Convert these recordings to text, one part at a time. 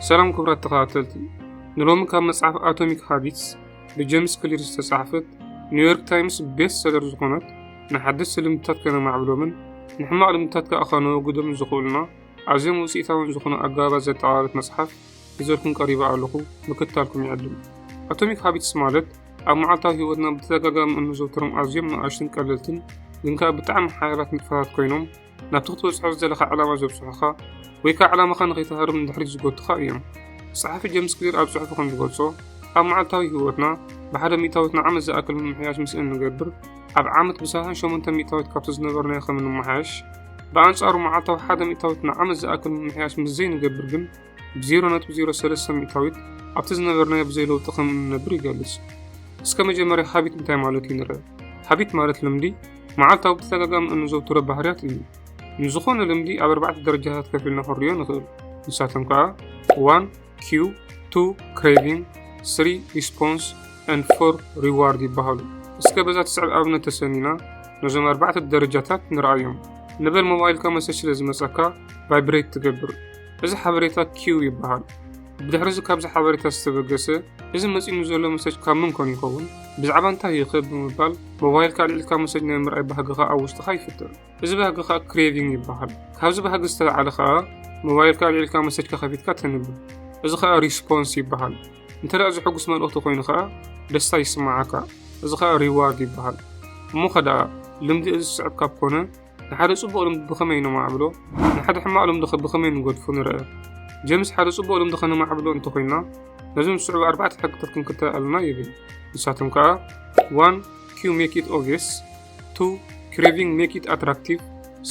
ሰላም ክቡራት ተኸታተልቲ፣ ንሎሚ ካብ መጽሓፍ ኣቶሚክ ሃቢትስ ብጀምስ ክሊር ዝተጻሕፈት ኒውዮርክ ታይምስ ቤስት ሰለር ዝኾነት ንሓደስቲ ልምድታት ከነማዕብሎምን ንሕማቕ ልምድታት ከኣ ከነወግዶምን ዝኽእሉና ኣዝዮም ውጽኢታውን ዝኾኑ ኣገባባት ዘጠቓለለት መጽሓፍ ሒዘልኩም ቀሪበ ኣለኹ ምክትታልኩም ይዕድም ኣቶሚክ ሃቢትስ ማለት ኣብ መዓልታዊ ህይወትና ብተደጋጋሚ እንዘውትሮም ኣዝዮም ንኣሽቱን ቀለልትን ግን ከዓ ብጣዕሚ ሓያላት ንጥፈታት ኮይኖም ናብቲ ክትበጽሖ ዝደለኻ ዕላማ ዘብጽሑኻ ወይ ከዓ ዕላማኻ ንኸይትሃርም ንድሕሪት ዝጎትኻ እዮም ጸሓፊ ጀምስ ክሊር ኣብ ጽሑፉ ከም ዝገልጾ ኣብ መዓልታዊ ህይወትና ብሓደ ሚእታዊት ንዓመት ዝኣክል ምምሕያሽ ምስ እንገብር ኣብ ዓመት ብሳህን ሸሞንተ ሚእታዊት ካብቲ ዝነበርናዮ ከም እንመሓየሽ ብኣንጻሩ መዓልታዊ ሓደ ሚእታዊት ንዓመት ዝኣክል ምምሕያሽ ምስ ዘይንገብር ግን ብ0.03 ሚእታዊት ኣብቲ ዝነበርናዮ ብዘይ ለውጢ ከም እንነብር ይገልጽ እስከ መጀመርያ ሃቢት እንታይ ማለት እዩ ንርአ ሃቢት ማለት ልምዲ መዓልታዊ ብተደጋጋሚ እንዘውትሮ ባህርያት እዩ ንዝኾነ ልምዲ ኣብ ኣርባዕተ ደረጃታት ከፊልና ክንሪዮ ንኽእል ንሳቶም ከዓ ዋን ኪዩ ቱ ክሬቪንግ ስሪ ሪስፖንስ ን ፎር ሪዋርድ ይበሃሉ እስከ በዛ ትስዕብ ኣብነት ተሰኒና ነዞም ኣርባዕተ ደረጃታት ንርኣዮም ንበል ሞባይልካ መሰጅ ስለ ዝመፀካ ቫይብሬት ትገብር እዚ ሓበሬታ ኪው ይበሃል። ብድሕሪ እዚ ካብዚ ሓበሬታ ዝተበገሰ እዚ መጺኑ ዘሎ መሰጅ ካብ ምን ኮን ይኸውን ብዛዕባ እንታይ ይኸ ብምባል ሞባይልካ ኣልዒልካ መሰጅ ናይ ምርኣይ ባህግኻ ኣብ ውሽጥኻ ይፍጥር። እዚ ባህጊ ከዓ ክሬቪንግ ይበሃል። ካብዚ ባህጊ ዝተለዓለ ከዓ ሞባይልካ ኣልዒልካ መሰጅካ ከፊትካ ተንብብ። እዚ ከዓ ሪስፖንስ ይበሃል። እንተ ደኣ ዝሕጉስ መልእኽቲ ኮይኑ ከዓ ደስታ ይስማዓካ። እዚ ከዓ ሪዋርድ ይበሃል። እሞ ከደኣ ልምዲ እዚ ዝስዕብ ካብ ኮነ ንሓደ ጽቡቕ ልምዲ ብኸመይ ነማዕብሎ፣ ንሓደ ሕማቕ ልምዲኸ ብኸመይ ንገድፎ ንርኣ። ጀምስ ሓደ ጽቡቕ ልምዲ ከነማዕብሎ እንተ ኾይንና ነዞም ዝስዕቡ ኣርባዕተ ሕግታት ክንክተል ኣሎና ይብል። ንሳቶም ከኣ 1 ኪው ሜክ ኢት ኦብቪየስ፣ 2 ክሬቪንግ ሜክ ኢት ኣትራክቲቭ፣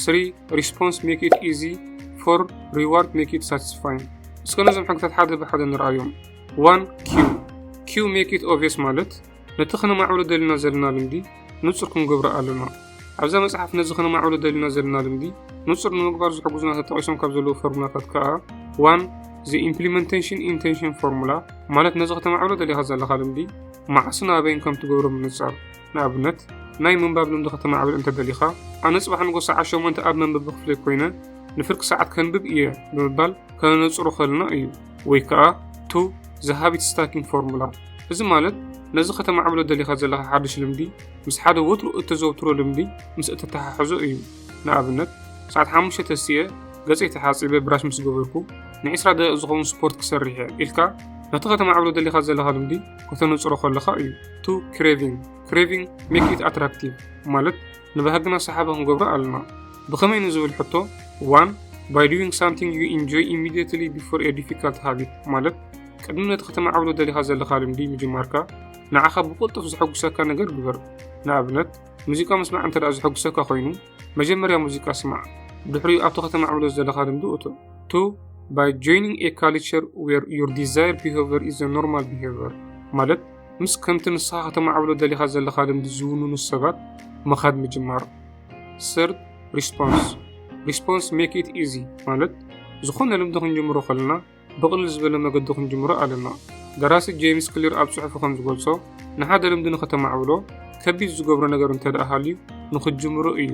3 ሪስፖንስ ሜክ ኢት ኢዚ፣ 4 ሪዋርድ ሜክ ኢት ሳቲስፋይን። እስከ ነዞም ሕግታት ሓደ ብሓደ ንርኣዮም። 1 ኪው ኪው ሜክ ኢት ኦብቪየስ ማለት ነቲ ኸነማዕብሎ ደሊና ዘለና ልምዲ ንጹር ክንገብሮ ኣሎና። ኣብዛ መጽሓፍ ነዚ ኸነማዕብሎ ደሊና ዘለና ልምዲ ንጹር ንምግባር ዝሕግዙና ተጠቒሶም ካብ ዘለዉ ፎርሙላታት ከኣ ዋን ዘ ኢምፕሊመንቴሽን ኢንቴንሽን ፎርሙላ ማለት ነዚ ከተማዕብሎ ደሊኻ ዘለኻ ልምዲ መዓስን ኣበይን ከም ትገብሮ ምንጻር ንኣብነት ናይ ምንባብ ልምዲ ከተማዕብል እንተ ደሊኻ ኣነ ጽባሕ ንጎ ሰዓት ሸሞንተ ኣብ መንበቢ ክፍለይ ኮይነ ንፍርቂ ሰዓት ከንብብ እየ ብምባል ከነነጽሮ ከልና እዩ ወይ ከኣ ቱ ዘ ሃቢት ስታኪንግ ፎርሙላ እዚ ማለት ነዚ ከተማዕብሎ ደሊኻ ዘለኻ ሓድሽ ልምዲ ምስ ሓደ ወትሩ እተዘውትሮ ልምዲ ምስ እተተሓሕዞ እዩ ንኣብነት ሰዓት ሓሙሽተ ተስየ ገጸይ ተሓጺበ ብራሽ ምስ ገበርኩ ንዒስራ ደቂቕ ዝኸውን ስፖርት ክሰርሕ እየ ኢልካ ነቲ ከተማዕብሎ ደሊኻ ዘለኻ ልምዲ ከተነጽሮ ከለኻ እዩ ቱ ክሬቪንግ ክሬቪንግ ሜክ ኢት ኣትራክቲቭ ማለት ንባህግና ሰሓቢ ክንገብሮ ኣሎና። ብኸመይ ንዝብል ሕቶ፣ ዋን ባይ ዱዊንግ ሳምቲንግ ዩ ኢንጆይ ኢሚድየትሊ ቢፎር ኤ ዲፊካልት ሃቢት ማለት ቅድሚ ነቲ ከተማዕብሎ ደሊኻ ዘለኻ ልምዲ ምጅማርካ ንዓኻ ብቕልጡፍ ዘሐጉሰካ ነገር ግበር። ንኣብነት ሙዚቃ ምስማዕ እንተ ዘሐጉሰካ ኮይኑ መጀመርያ ሙዚቃ ስማዕ፣ ድሕሪኡ ኣብቲ ከተማዕብሎ ዘለኻ ልምዲ እቶ። ቱ ባይ ጆይኒንግ ኤ ካልቸር ዌር ዩር ዲዛይር ቢሄቨር ኢዝ ዘ ኖርማል ቢሄቨር ማለት ምስ ከምቲ ንስኻ ከተማዕብሎ ደሊኻ ዘለኻ ልምዲ ዝውንኑ ሰባት ምኻድ ምጅማር። ሰርድ ሪስፖንስ ሪስፖንስ ሜክ ኢት ኢዚ ማለት ዝኾነ ልምዲ ክንጅምሮ ከለና ብቕልል ዝበለ መገዲ ክንጅምሮ ኣለና። ደራሲ ጄምስ ክሊር ኣብ ጽሑፉ ከም ዝገልጾ ንሓደ ልምዲ ንኸተማዕብሎ ከቢድ ዝገብሮ ነገር እንተ ደኣ ሃልዩ ንኽጅምሮ እዩ።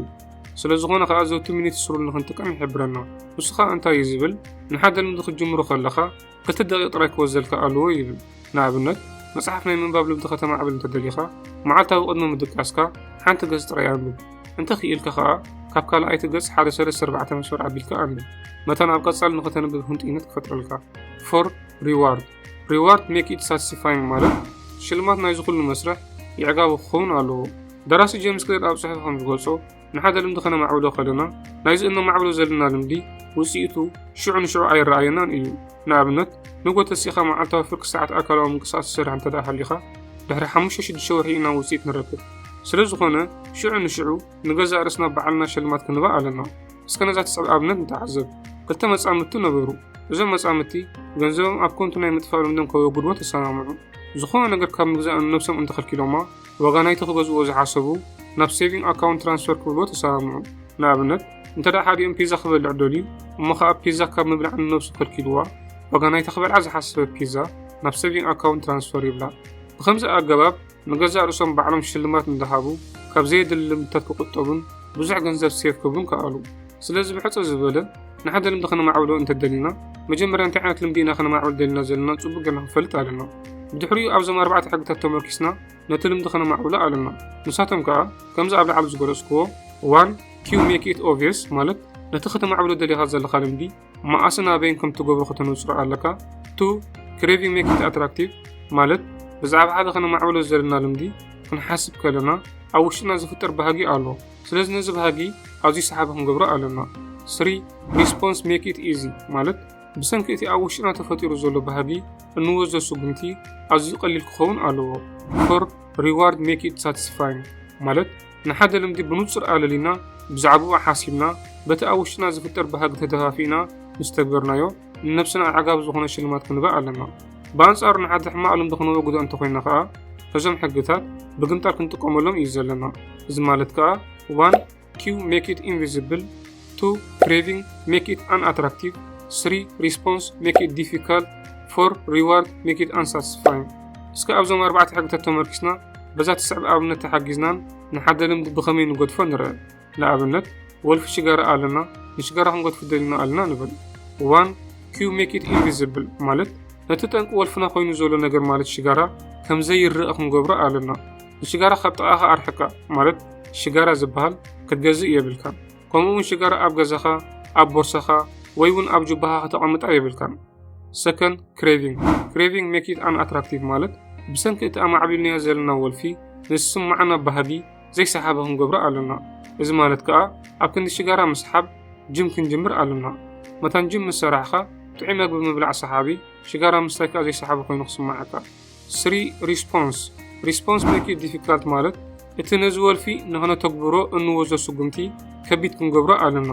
ስለ ዝኾነ ከኣ ዘውቲ ሚኒት ስሩል ንኽንጥቀም ይሕብረና። ንሱ ኸኣ እንታይ እዩ ዝብል ንሓደ ልምዲ ክትጅምሮ ከለኻ ክልተ ደቂቕ ጥራይ ክወዘልካ ኣለዎ ይብል። ንኣብነት፣ መጽሓፍ ናይ ምንባብ ልምዲ ከተማዕብል እንተ ደሊኻ፣ መዓልታዊ ቅድሚ ምድቃስካ ሓንቲ ገጽ ጥራይ ኣንብብ። እንተ ክኢልካ ኸኣ፣ ካብ ካልኣይቲ ገጽ ሓደ ሰለስተ ኣርባዕተ መስመር ኣቢልካ ኣንብብ። መታን ኣብ ቀጻሊ ንኸተንብብ ህንጡይነት ክፈጥረልካ። ፎር ሪዋርድ ሪዋርድ ሜክ ኢት ሳቲስፋይንግ ማለት ሽልማት ናይዚ ኩሉ መስርሕ የዕጋቢ ክኸውን ኣለዎ። ደራሲ ጀምስ ክሌር ኣብ ጽሑፉ ከም ዝገልጾ፣ ንሓደ ልምዲ ከነማዕብሎ ከለና ናይዚ እነማዕብሎ ዘለና ልምዲ ውፅኢቱ ሽዑ ንሽዑ ኣይረኣየናን እዩ ንኣብነት ንጎ ተሲእኻ መዓልታዊ ፍርቂ ሰዓት ኣካላዊ ምንቅስቃስ ትሰርሕ እንተ ሃሊኻ ድሕሪ ሓሙሽተ ሽዱሽተ ወርሒ ኢና ውፅኢት ንረክብ ስለ ዝኾነ ሽዑ ንሽዑ ንገዛእ ርእስና በዓልና ሸልማት ክንባ ኣለና እስከ ነዛ ትስዕብ ኣብነት ንተዓዘብ ክልተ መጻምድቲ ነበሩ እዞም መጻምድቲ ገንዘቦም ኣብ ኮንቱ ናይ ምጥፋእ ልምዶም ከወግድዎ ተሰማምዑ ዝኾነ ነገር ካብ ምግዛእ ንነብሶም እንተኸልኪሎማ ዋጋ ናይቲ ክገዝእዎ ዝሓሰቡ ናብ ሴቪንግ ኣካውንት ትራንስፈር ክብልዎ ተሰማምዑ። ንኣብነት እንተደኣ ሓዲኦም ፒዛ ክበልዕ ደልዩ እሞ ከኣ ፒዛ ካብ ምብላዕ ንነብሱ ከልኪልዋ ዋጋ ናይቲ ክበልዓ ዝሓሰበት ፒዛ ናብ ሴቪንግ ኣካውንት ትራንስፈር ይብላ። ብከምዚ ኣገባብ ንገዛእ ርእሶም ባዕሎም ሽልማት እንዳሃቡ ካብ ዘየድሊ ልምድታት ክቁጠቡን ብዙሕ ገንዘብ ሴቭ ክብሉን ከኣሉ። ስለዚ ብሕጽር ዝበለ ንሓደ ልምዲ ከነማዕብሎ እንተደሊና መጀመርያ እንታይ ዓይነት ልምዲ ኢና ከነማዕብል ደሊና ዘለና ጽቡቅ ገና ክንፈልጥ ኣለና ብድሕሪኡ ኣብዞም ኣርባዕተ ሕግታት ተመርኪስና ነቲ ልምዲ ከነማዕብሎ ኣለና ንሳቶም ከዓ ከምዚ ኣብ ላዕሊ ዝገለጽክዎ ዋን ኪው ሜክ ኢት ኦቪየስ ማለት ነቲ ከተማዕብሎ ደሊኻ ዘለካ ልምዲ መኣስን ኣበይን ከም ትገብሮ ከተነጽሮ ኣለካ። ቱ ክሬቪ ሜክ ኢት ኣትራክቲቭ ማለት ብዛዕባ ሓደ ከነማዕብሎ ዘለና ልምዲ ክንሓስብ ከለና ኣብ ውሽጥና ዝፍጠር ባህጊ ኣሎ። ስለዚ ነዚ ባህጊ ኣዝዩ ሰሓቢ ክንገብሮ ኣለና። ስሪ ሪስፖንስ ሜክ ኢት ኢዚ ማለት ብሰንኪ እቲ ኣብ ውሽጥና ተፈጢሩ ዘሎ ባህጊ እንወዞ ስጉምቲ ኣዝዩ ቀሊል ክኸውን ኣለዎ። ፎር ሪዋርድ ሜክ ኢት ሳቲስፋይንግ ማለት ንሓደ ልምዲ ብንጹር ኣለሊና፣ ብዛዕባኡ ሓሲብና፣ በቲ ኣብ ውሽጥና ዝፍጠር ባህጊ ተደፋፊእና ምስ ተግበርናዮ፣ ንነብስና ኣዕጋቢ ዝኾነ ሽልማት ክንበ ኣለና። ብኣንጻሩ ንሓደ ሕማቕ ልምዲ ክነወግዶ እንተኾይና ከኣ፣ ነዞም ሕግታት ብግምጣል ክንጥቀመሎም እዩ ዘለና። እዚ ማለት ከኣ ዋን ኪው ሜክ ኢት ኢንቪዚብል፣ ቱ ክሬቪንግ ሜክ ኢት ኣን ኣትራክቲቭ ስሪ ሪስፖንስ ሜክ ኢት ዲፊካልት ፎር ሪዋርድ ሜክ ኢት ኣንሳትስፋይን እስከ ኣብዞም ኣርባዕተ ሕግታት ተመርኪስና በዛ ትስዕብ ኣብነት ተሓጊዝናን ንሓደ ልምዲ ብኸመይ ንገድፎ ንርአ ንኣብነት ወልፊ ሽጋራ ኣለና ንሽጋራ ክንገድፉ ደሊና ኣለና ንብል ዋን ኪዩ ሜክ ኢት ኢንቪዝብል ማለት ነቲ ጠንቂ ወልፍና ኮይኑ ዘሎ ነገር ማለት ሽጋራ ከምዘይረአ ክንገብሮ ኣለና ንሽጋራ ካብ ጥቓኻ ኣርሕቃ ማለት ሽጋራ ዝበሃል ክትገዝእ የብልካ ከምኡ እውን ሽጋራ ኣብ ገዛኻ ኣብ ቦርሳኻ ወይ እውን ኣብ ጁባኻ ከተቐምጣ የብልካን ሰከን ክሬቪንግ ክሬቪንግ ሜክ ኢት ኣን ኣትራክቲቭ ማለት ብሰንኪ እቲ ኣማዕቢልናዮ ዘለና ወልፊ ንዝስማዓና ባህጊ ዘይሰሓቢ ክንገብሮ ኣለና እዚ ማለት ከዓ ኣብ ክንዲ ሽጋራ ምስሓብ ጅም ክንጅምር ኣለና መታን ጅም ምስ ሰራሕኻ ጥዑይ መግቢ ምብላዕ ሰሓቢ ሽጋራ ምስታይ ከዓ ዘይሰሓቢ ኮይኑ ክስማዓካ ስሪ ሪስፖንስ ሪስፖንስ ሜክ ዲፊካልት ማለት እቲ ነዚ ወልፊ ንክነተግብሮ እንወዞ ስጉምቲ ከቢድ ክንገብሮ ኣለና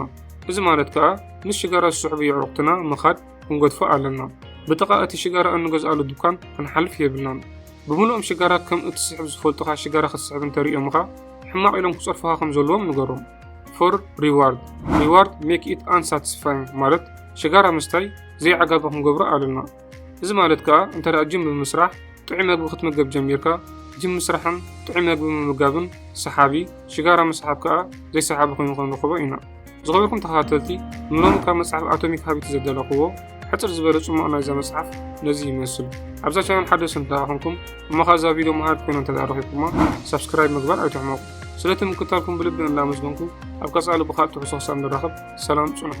እዚ ማለት ከዓ ምስ ሽጋራ ዝስሕቡ የዕሩኽትና ምኻድ ክንገድፎ ኣለና ብጥቓ እቲ ሽጋራ እንገዝኣሉ ድኳን ክንሓልፍ የብልናን ብምሉኦም ሽጋራ ከም እትስሕብ ዝፈልጡኻ ሽጋራ ክትስሕብ እንተርእዮምኻ ሕማቕ ኢሎም ክፀርፉኻ ከም ዘለዎም ንገሮም ፎር ሪዋርድ ሪዋርድ ሜክ ኢት ኣንሳትስፋይንግ ማለት ሽጋራ ምስታይ ዘይዓጋቢ ክንገብሮ ኣለና እዚ ማለት ከኣ እንተ ጅም ብምስራሕ ጥዑይ መግቢ ክትምገብ ጀሚርካ፣ ጅም ምስራሕን ጥዑይ መግቢ ምምጋብን ሰሓቢ፣ ሽጋራ ምስሓብ ከኣ ዘይሰሓቢ ኮይኑ ክንረኽቦ ኢና። ዝኸበርኩም ተኸታተልቲ፣ ንሎሚ ካብ መጽሓፍ ኣቶሚክ ሃቢት ዘዳለኹዎ ሕጽር ዝበለ ጽሙቕ ናይዛ መጽሓፍ ነዚ ይመስል። ኣብዛ ቻናል ሓደስቲ እንተ ኹንኩም እሞ ኸኣ እዛ ቪድዮ መሃሪት ኮይና እንተ ረኺብኩማ ሳብስክራይብ ምግባር ኣይትሕመቑ። ስለቲ ምክታልኩም ብልቢ እናመስገንኩ ኣብ ቀጻሊ ብኻልእ ትሕዝቶ ክሳብ ንራኸብ ሰላም ጽንሑ።